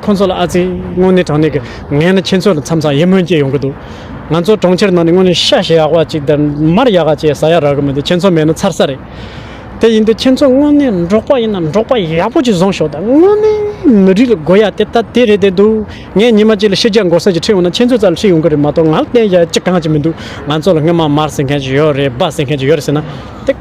ཁོང་ཚོ་ལ་ཨ་ཙི་དངོས་གནས་དྲང་གནས་ཀྱི་ངས་ནི་ཁྱེད་ཚོ་ལ་མཚམས་ཚ་ཡིད་སྨོན་སྐྱེ་ཡོང་གི་འདུག་ང་ཚོ་གྲོང་ཁྱེར་ནང་ནས་དངོས་གནས་ཤ་ཞེ་ཡག་པ་ཅིག་དར་མར་ཡག་ག་བཅས་ཟ་ཡག་རག་གི་མི་འདུག་ཁྱེད་ཚོ་མེད་ན་ཚར་ས་རེད། དེ་ཡིན་དུས་ཁྱེད་ཚོ་དངོས་གནས་འབྲོག་པ་ཡིན་ན་འབྲོག་པ་ཡག་པོ་ཅིག་བཟུང་ཤོག་དང་དངོས་གནས་མི་རིགས་ལ་དགོས་ཡག་དེ་ལྟ་དེ་རེད་དེ་འདུག་ངས་ཉི་མ་གཅིག་ལ་ཤེས་རྒྱ་འགོག་ས་ཅིག་ཁྲིད་འོང་ན་ཁྱེད་ཚོའི་རྩ་ལ་ཁྲིད་ཡོང་གི་རེད་མ་གཏོགས་ང་ལ་བསྟན་བྱ་ཅི་གང་ཅིག་མི་འདུག་ང་ཚོ་ལ་དངོས་མང་མར་ཟེར་མཁན་ཅིག་ཡོད་རེད་སྦ་ཟེར་མཁན་ཅིག་ཡོད་རེད་ཟེར་ན་དེ་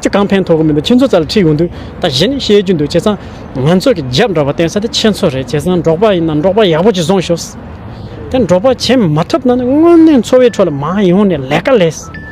ཅི་གང་ཕན་ཐོག་གི་མི་འདུག་ཁྱེད་ཚོའི་རྩ་ལ་ཁྲིད་ཡོང་དུས་ད་གཞི་ནས་བཤད་རྒྱུ་འདུག་བྱས་ཙང། ང་ཚོ་གི་རྒྱབ་འདྲ་པ་བསྟན་ས་དེ་ཁྱེད་ཚོ་རེད་བྱས་ཙང་འབྲོག་པ་ཡིན་ན་འབྲོག་པ་ཡག་པོ་གཅིག་བཟུང་ཤོག། དེ་འབྲོག་པ་བྱས་མ་ཐུབ་ན་ནི་དངོས་གནས་འཚོ་བའི་ཁྲོད་ལ་མ་ཡོང་ནས་ལས་ཀ་ལས།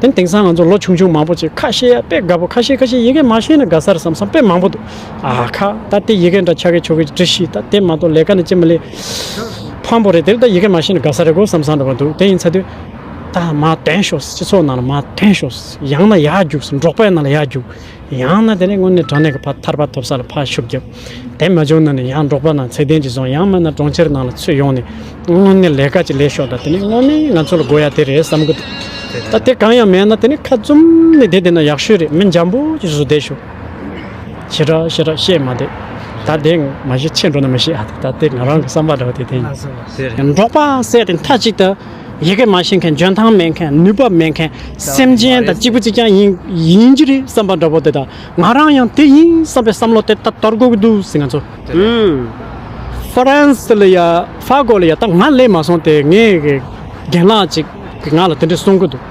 དེ་དེང་སང་ང་ཚོ་ལོ་ཆུང་ཆུང་མང་པོ་ཅིག་ཁ་ཤེས་ཡ་དཔེ་དགའ་པོ་ཁ་ཤེས་ཁ་ཤེས་ཡི་གེ་མ་ཤེས་ན་དགའ་སར་བསམ་བསམ་དཔེ་མང་པོ་འདུག་ཨ་ཁ་ད་དེ་ཡི་གེ་འདྲ་ཆགས་གི་ཆོག་གི་འདྲི་ཤིས་ད་དེ་མ་གཏོགས་ལས་ཀ་ནི་ཅི་མ་ལས། ཕམ་པོ་རེད་དེ་ད་ཡི་གེ་མ་ཤེས་ན་དགའ་ས་རེད་གོ་བསམ་བསམ་འདྲ་པོ་འདུག་དེ་ཡིན་ཚ་དུས། ད་མ་དོན་ཤོག་སྤྱི་ཚོགས་ནང་ལ་མ་དོན་ཤོག་ཡང་ན་ཡག་རྒྱུགས་སོ་འབྲོག་པའི་ནང་ལ་ཡག་རྒྱུགས། ཡང་ན་དེ་ནས་སྔོན་ནས་དྲང་གནས་ཀྱི་ཕ་ཐར་པ་ཐོབ་ས་ལ་ཕ་ཤུགས་རྒྱབ། དེ་མ་བྱུང་ན་ནི་ཡང་འབྲོག་པ་རྣམས་ཚད་ལྡན་གྱིས་བཟུང་ཡང་མིན་ན་གྲོང་ཁྱེར་ནང་ལ་ཚུད་ཡོང་ནས་དངོས་གནས་ལས་ཀ་ཅིག་ལས་ཤོག་དང་དེ་ནས་དངོས་གནས་ང་ཚོ་ལ་དགོས་ཡ་དེ་རེད་བསམ་གི་འདུག་ད་དེ་གང་ཡང་མེད་ན་དེ་ནས་ཁ་བཙུམ་ནས་བསྡད་དེ་ན་ཡག་ཤོས་རེད་མི་འཇམ་པོ་གྱི་གཟུ་བསྡད་ཤོག་ཞེ་དྲག་ཞེ་དྲག་བཤད་མ་བསྡད་ད་དེ་མ་ཤེས་ཕྱིར་འགྲོ་ན་མི་ཤེས་ཨ་ད་དེ་ང་རང་གི་བསམ་པ་འདྲ་བ་དེ་དེ་ཡིན། འབྲོག་པ་བསད་དེ་མཐའ་གཅིག་ཏུ། ཡི་གེ་མ་ཤེས་མཁན་འཇོན་ཐང་མེད་མཁན་ནུས་པ་མེད་མཁན་སེམས་ཅན་དང་གཅིག་པུ་གཅིག་རྐྱང་ཡིན་ཡིན་གྱི་རེད་བསམ་པ་འདྲ་བོ་དེ་དང་ང་རང་ཡང་དེ་ཡིན་བསམ་པའི་བསམ་བློ་དེ་ད་དོར་དགོས་ཀྱི་འདུག་ཟེར་ང་ཚོ་ཧྥ་རན་སི་ལ་ཡ་ཧྥ་གོ་ལ་ཡ་ད་ང་སླེབས་མ་སོང་སྟེ་ངའི་རྒན་ལགས་ཅིག་གིས་ང་ལ་དེ་འདྲས་གསུང་གི་འདུག།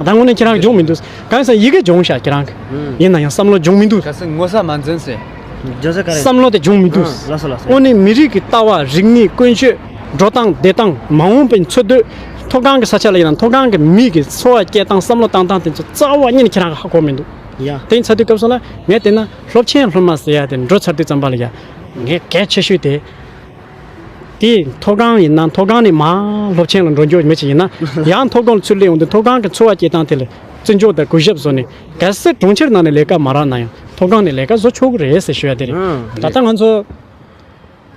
ད་དངོས་གནས་ཁྱེད་རང་གི་སྦྱོང་མི་འདུག་གང་ཡིན་ཟེར་ན་ཡི་གེ་སྦྱོང་བཞག་ཁྱེད་རང་གི་ཡིན་ན་ཡང་བསམ་བློ་སྦྱོང་མི་འདུག་ག་སྲིད་ངོ་ཚ་མ་འཛིན་ཟེར། བསམ་བློ་དེ་སྦྱོང་མི་འདུག་དངོས་གནས་མི་རིགས་ཀྱི་ལྟ་བ་རིག་གནས་ཀུན་སྤྱོད་འགྲོ་སྟངས་བསྡད་སྟངས་མ་འོངས་པའི་འཚོ་སྡོད་མཐོ་སྒང་གི་ས་ཆ་ལ་ཡིན་ན་མཐོ་སྒང་གི་མིས་ཀྱི་འཚོ་བ་སྐྱེལ་སྟངས་བསམ་བློ་བཏང་སྟངས་དེ་ཚོ་རྩ་བ་ཉིད་ནས་ཁྱེད་རང་གི་ཧ་གོ་མི་འདུག་དེ་ཚ་དུས་སྐབས་སོགས་ལ་ངས་བལྟས་ན་སློབ་ཆེན་སློབ་མ་ཟེར་ཡ་དེ་འགྲོ་ཚར་དུས་ཙམ་པ་ལ་ཡ་ངས་གལ་ཆེ་ཤོས་དེ། དེས་མཐོ་སྒང་ཡིན་ན་མཐོ་སྒང་ནས་མར་སློབ་ཆེན་ལ་འགྲོ་འཇུག་མི་ཞིག་ཡིན་ན་ཡང་མཐོ་སྒང་ལ་ཚུར་སླེབས་འོང་དུས་མཐོ་སྒང་གི་འཚོ་བ་སྐྱེལ་སྟངས་དེ་ལ་བརྩི་འཇོག་དང་གུས་ཞབས་བཟོ་ནས་གལ་སྲིད་གྲོང་ཁྱེར་ནང་ནས་ལས་ཀ་མ་རག་ན་ཡང་མཐོ་སྒང་ནས་ལས་ཀ་བཟོ་ཆོག་གི་རེད་ཟེར་ཞུ་ཡ་དེ་རེད། ད་ལྟ་ང་ཚོ་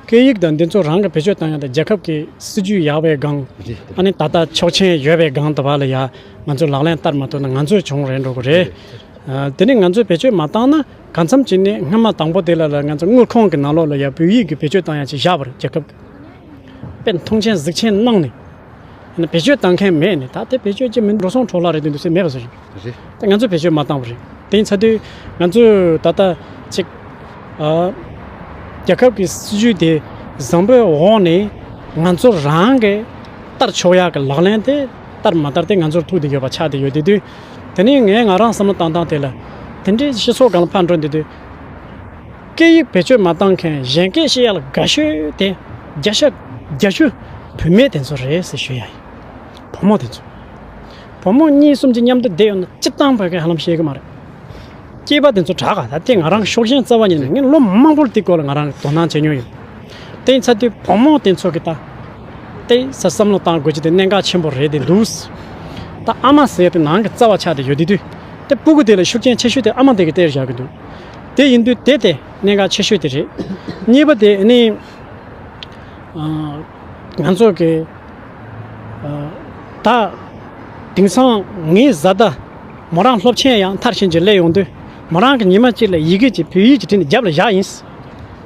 སྐད་ཡིག་དང་འདི་ཚོ་རང་གི་བེད་སྤྱོད་བཏང་ཡ་དང་རྒྱལ་ཁབ་ཀྱི་སྲིད་ཇུས་ཡག་པའི་སྒང་ཨ་ནི་ད་ལྟ་ཆོག་མཆན་ཡོད་པའི་སྒང་དུ་བ་ལ་ཡ་ང་ཚོས་ལག་ལེན་བསྟར་མ་ཐུབ་ན་ང་ཚོའི་གྱོང་རེད་འགྲོ་གི་རེད། དེ་ནས་ང་ཚོས་བེད་སྤྱོད་མ་བཏང་ན། གང་འཚམ་བྱས་ནས་སྔོན་མ་དང་པོ་དེ་ལ་ལ་ང་ཚོ་དངུལ་ཁང་གི་ནང་ལོགས་ལ་ཡང་བོད་ཡིག་གི་བེད་སྤྱོད་བཏང་ཡང་ཅིག་བཞག་པར་རྒྱལ་ཁབ་པས་མཐོང་ཆེན་གཟིགས་ཆེན་གནང་ནས། ཡང་བེད་སྤྱོད་བཏང་མཁན་མེད་ནས་ད་དེ་བེད་སྤྱོད་ཀྱི་མིན་འགྲོ་སོང་འཕྲོ་བརླག་རེད་འདུག་འདུག་སེ་མེད་པ་བཟོ་རིགས་རེད་དེ་ང་ཚོས་བེད་སྤྱོད་མ་བཏང་བ་རེད་དེ་ཡིན་ཚ་དུས་ང་ཚོས་ད་ལྟ་ཅིག་རྒྱལ་ཁབ་ཀྱི་སྲིད་ཇུས་དེ་བཟང་པོའི་འོག་ནས་ང་ཚོ་རང་གི་ལྟར་ཆོག་ཡག་གི་ལག་ལེན་དེ། ལྟར་མ་ལྟར་དེ་ང་ཚོར་ཐུག་དེ་ཡོད་པ་ཆགས་དེ་ཡོད་དེ་དུས། དེ་ནས་ངས་ང་རང་བསམ་བློ་བཏང་སྟངས་དེ་ལ། དེ་འདྲའི་ཤི་སྲོག་ག་ལ་ཕར་འགྲོ་འདི་དུས། སྐད་ཡིག་བེད་སྤྱོད་མ་བཏང་མཁན་གཞན་སྐད་བཤད་ཡག་ལ་དགའ་ཤོས་དེ། རྒྱ་ཤ། རྒྱ་ཤུ། བུད་མེད་དེ་ཚོ་རེད་ཟེར་ཞུ་ཡག་ཡིན། བུ་མོ་དེ་ཚོ། བུ་མོ་གཉིས་གསུམ་གྱི་མཉམ་དུ་བསྡད་ཡོད་ན་ཅི་གཏམ་བོད་སྐད་ཧ་ལམ་ཤེས་གི་མ་རེད། སྐྱེས་པ་དེ་ཚོ་དྲག་ག་ད་ལྟའི་ང་རང་ཤོག་ཞེན་རྩ་བ་ཉིད་ནས་ངས་ལོ་མང་པོར་དེའི་སྐོར་ལ་ང་རང་དོ་སྣང་བྱེད་མྱོང་ཡོད། བརྟེན་ཚ་དུས་བོང་མོ་དེ་ཚོ་གི་ད་ལྟའི་ས་བསམ་བློ་བཏང་དགོས་ཀྱི་དེ་གནད་འགག་ཆེན་པོ་རེད་དེ་འདུག་ད་ཨ་མ་ཟེར་དེ་ནང་གི་རྩ་བ་ཆགས་དེ་ཡོད་དེ་དུས་དེ་སྤུ་གུ་དེ་ལ་ཤུགས་རྐྱེན་ཆེ་ཤོས་དེ་ཨ་མ་དེ་གི་སྟེར་བཞག་གི་འདུག་དེ་ཡིན་དུས་དེ་དེ་གནད་འགག་ཆེ་ཤོས་དེ་རེད། གཉིས་པ་དེ་ནི། ང་ཚོ་གི་ད་དེང་སང་ངའི་བཟའ་ཟླ་མོ་རང་སློབ་ཆེན་ཡང་མཐར་ཕྱིན་གྱི་སླེབས་ཡོང་དུས་མོ་རང་གི་ཉི་མ་གཅིག་ལ་ཡི་གེ་གཅིག་བོད་ཡིག་གི་བྲིས་ནས་རྒྱབ་ལ་བཞག་ཡིན།